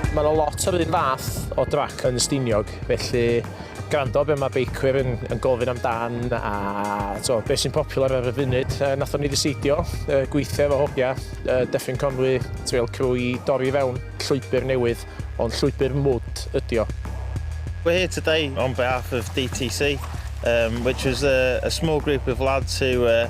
Mae yna lot o'r un fath o drac yn Steiniog, felly gwrando be mae beicwyr yn, yn gofyn amdan a so, beth sy'n popular ar y funud. E, nathon ni ddiseidio e, gweithio efo hogia, e, Deffin Conwy, Trail Crew i dorri fewn llwybr newydd, ond llwybr mwd ydi o. We're here today on behalf of DTC, um, which was a, a small group of lads who uh,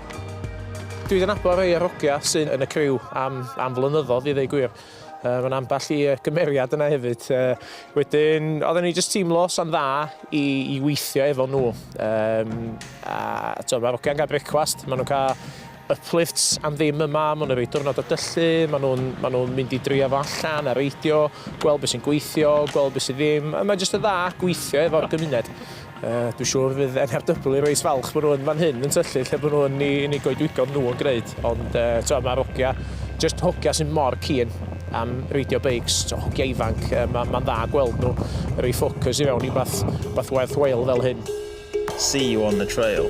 Dwi 'di nabod rhei o'r hogia sydd yn y criw am am flynyddodd i ddeu gwir. Yy ma' 'na ambell i yy gymeriad yna hefyd. Yy wedyn odden ni jyst teimlo sa'n dda i i weithio efo nhw. Yym a t'o' ma'r hogia'n ga'l brecwast, ma' nhw'n ca' uplifts am ddim yma, ma' nhw'n roi diwrnod o dyllu, ma' nhw'n ma' nhw'n mynd i drio fo allan a reidio, gweld be' sy'n gweithio, gweld be' sy ddim, a mae jyst yn dda gweithio efo'r gymuned. Dwi'n siŵr fydd NRW yn reit falch bod nhw yn fan hyn yn tyllu lle bod nhw yn i, yn i goedwigodd nhw yn gwneud. Ond uh, twa, mae'r hogia, just hogia sy'n mor cyn am reidio beics, twa, hogia ifanc, uh, mae'n ma dda gweld nhw rei ffocws i fewn i bath, bath werthwael fel hyn. See you on the trail.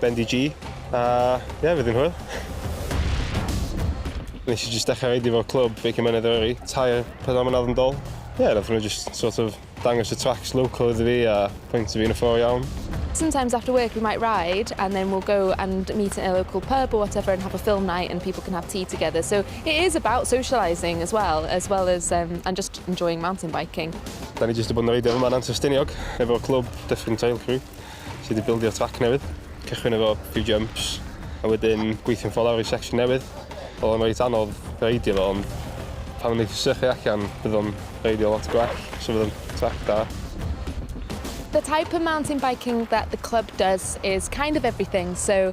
Bendigee, a ie, fe ddyn hwyl. Nes i jyst dechrau reidio fo'r clwb, Beicio Mynedd Eryri, tair, pedwar mlynedd yn dol. Ie, yeah, nath nhw jyst sort of dangos y tracks local iddo fi a pwynt fi yn y ffôr iawn. Sometimes after work we might ride and then we'll go and meet in a local pub or whatever and have a film night and people can have tea together. So it is about socialising as well, as well as um, and just enjoying mountain biking. Da ni jyst i bod yn reidio yma yn Antur Stiniog, efo'r clwb Dyffryn Trail Crew. sy 'di bildio trac newydd. Cychwyn efo few jumps a wedyn gweithio'n ffordd lawr i section newydd. Oedd o'n reit anodd reidio fo ond pan o'n i 'di sychu allan bydd o'n reidio lot gwell so bydd o'n trac da. The type of mountain biking that the club does is kind of everything so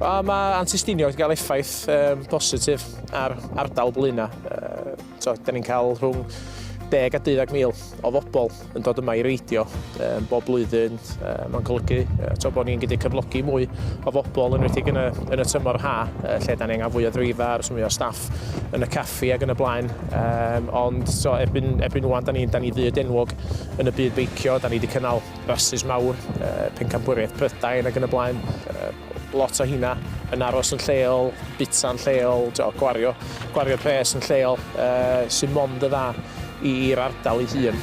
Wel, mae antistinio wedi cael effaith um, positif ar ardal Blaena. Uh, so, da ni'n cael rhwng 10 a 12 mil o fobl yn dod yma i reidio um, bob blwyddyn. Uh, Mae'n golygu uh, to, bod ni'n gallu cyflogi mwy o fobl yn wedi yn y, yn y tymor ha, uh, lle da ni'n angen fwy o ddreifa a'r mwy o staff yn y caffi ac yn y blaen. Um, ond so, erbyn, erbyn wan, da ni, da ni fyd enwog yn y byd beicio. Da ni wedi cynnal rasus mawr, uh, pencampwriaeth Prydain ac yn y blaen. Uh, lot o hynna yn aros yn lleol, bita'n lleol, do, gwario, gwario pres yn lleol, uh, sy'n mond y dda i'r ardal ei hun.